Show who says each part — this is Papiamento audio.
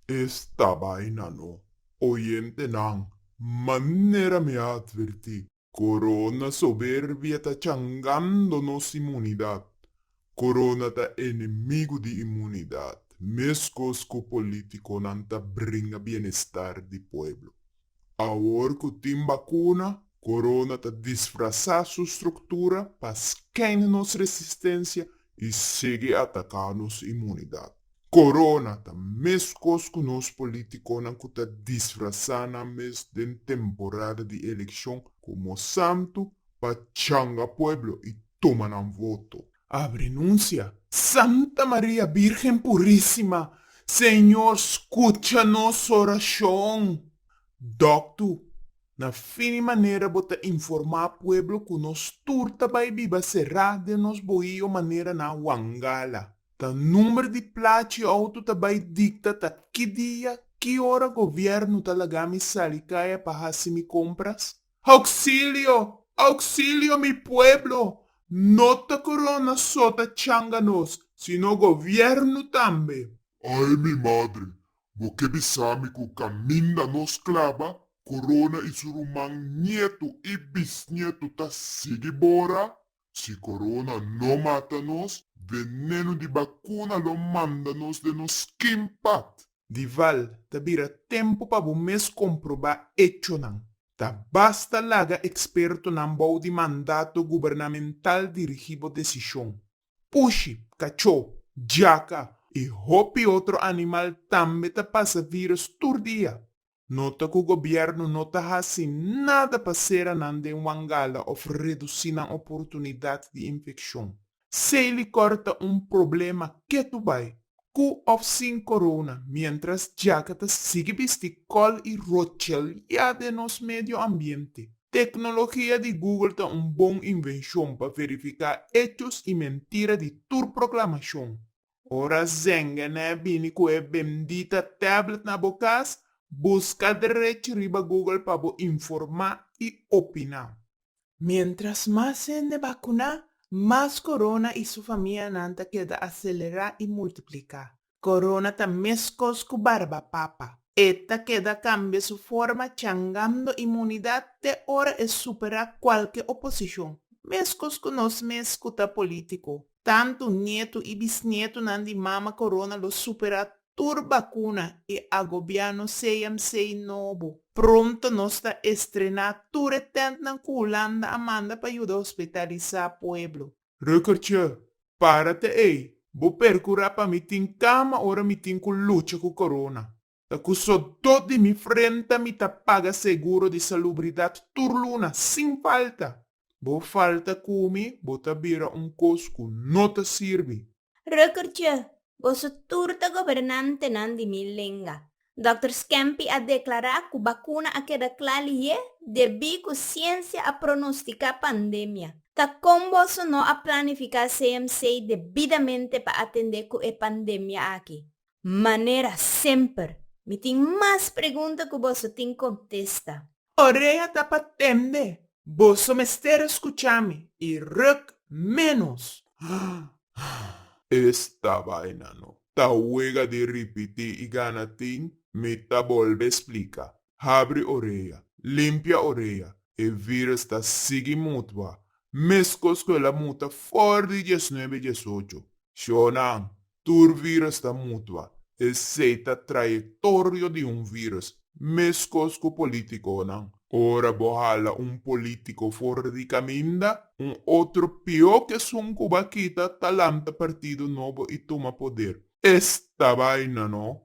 Speaker 1: Esta baina no. Oyentenan, manera mi a atvertí, corona soberbia ta changando nos inmunidad. Corona ta enemigo di inmunidad, mescos cu politiconan ta bringa bienestar di pueblo. Awor cu tin bacuna, corona ta disfrasa su structura pa scandi nos resistencia y sigui ataca nos inmunidad. Corona ta mescos cu nos politiconan cu ta disfrasa nan mes den temporada di eleccion como santo pa changa pueblo y tuma nan voto. a renuncia. Santa Maria Birgen Purisima, Señor scucha nos oracion! Doctu, na fin di manera bo ta informa pueblo cu nos tur ta bay biba sera den nos bohio manera na Wangala. Ta number di plachi y auto ta bay dicta ta ki dia, ki ora gobierno ta laga mi sali caya pa haci mi compras? Oxilio! Oxilio mi pueblo! No ta corona so ta changa nos, sino gobierno tambe. Ay mi madre! Bo ke bisami cu caminda nos claba, corona y su ruman, nieto y bisnieto ta sigui bora? Si corona no mata nos, veneno di bacuna lo manda nos den nos skin pat. Dival, ta bira tempo pa bo mes comproba hechonan. Ta basta laga expertonan bou di mandato gubernamental dirigi bo decision. Pushi, cacho, jaca, y hopi otro animal tambe ta pasa virus tur dia. Nota cu gobierno no ta haci nada pa cera nan den wangala of reduci nan oportunidad di infeccion. Seis licor ta un problema ketu bay, cu of sin corona, mientras djaka ta sigui bisti col y rotcheliá den nos medio ambiente. Tecnologia di Google ta un bon invencion pa verifica echos y mentira di tur proclamacion. Ora Zengenè bini ku e bendita tablet na bo kas, buska derech riba Google pa bo informá i opiná. Miéntras mas hende bakuná, mas Corona i su famianan ta keda aselerá i multipliká. Corona ta meskos ku barbapapa. E ta keda kambia su forma changando imunidat te ora e superá kualke oposishon, meskos ku nos mes ku ta polítiko. Tantu nietu i bisnietunan di Mama Corona lo supera tur bacuna i a gobia nos CMC nobo. Pronto nos ta estrena tur e tentnan cu Hulanda a manda pa yuda hospitalisa pueblo. Rukertje, para ta ey, bo percura pa mi tin cama ora mi tin cu lucha cu Corona. Ta ku sodó di mi frenta mi ta paga seguro di salubridat tur luna sin falta. Bo falta ku mi, bo ta bira un kos ku no ta sirbi. Rukkertje, boso tur ta gobernantenan di mi lenga. Dòkter Skempi a deklará ku bakuna a keda kla lihé debí ku siensia a pronostiká pandemia. Ta kon boso no a planifiká CMC debidamente pa atendé ku e pandemia aki? manera semper. Mi tin mas pregunta cu boso tin contesta. Orea ta pa tende, boso mester escucha mi y ruk menos. Esta vaina no ta wega di ripiti y gana tin, mi ta bolbe explica. Habri orea, limpia orea, e virus ta sigui mutua, mescos cu el a muta for di diesnuebe diesocho. Shoo nan, Tur virus ta mutua, esei ta trayectorio di un virus, meskos ku politikonan. Ora bo hala un politiko for di kaminda, un otro pió ku esun ku bo a kita ta lanta partido nobo i tuma poder. Esta baina no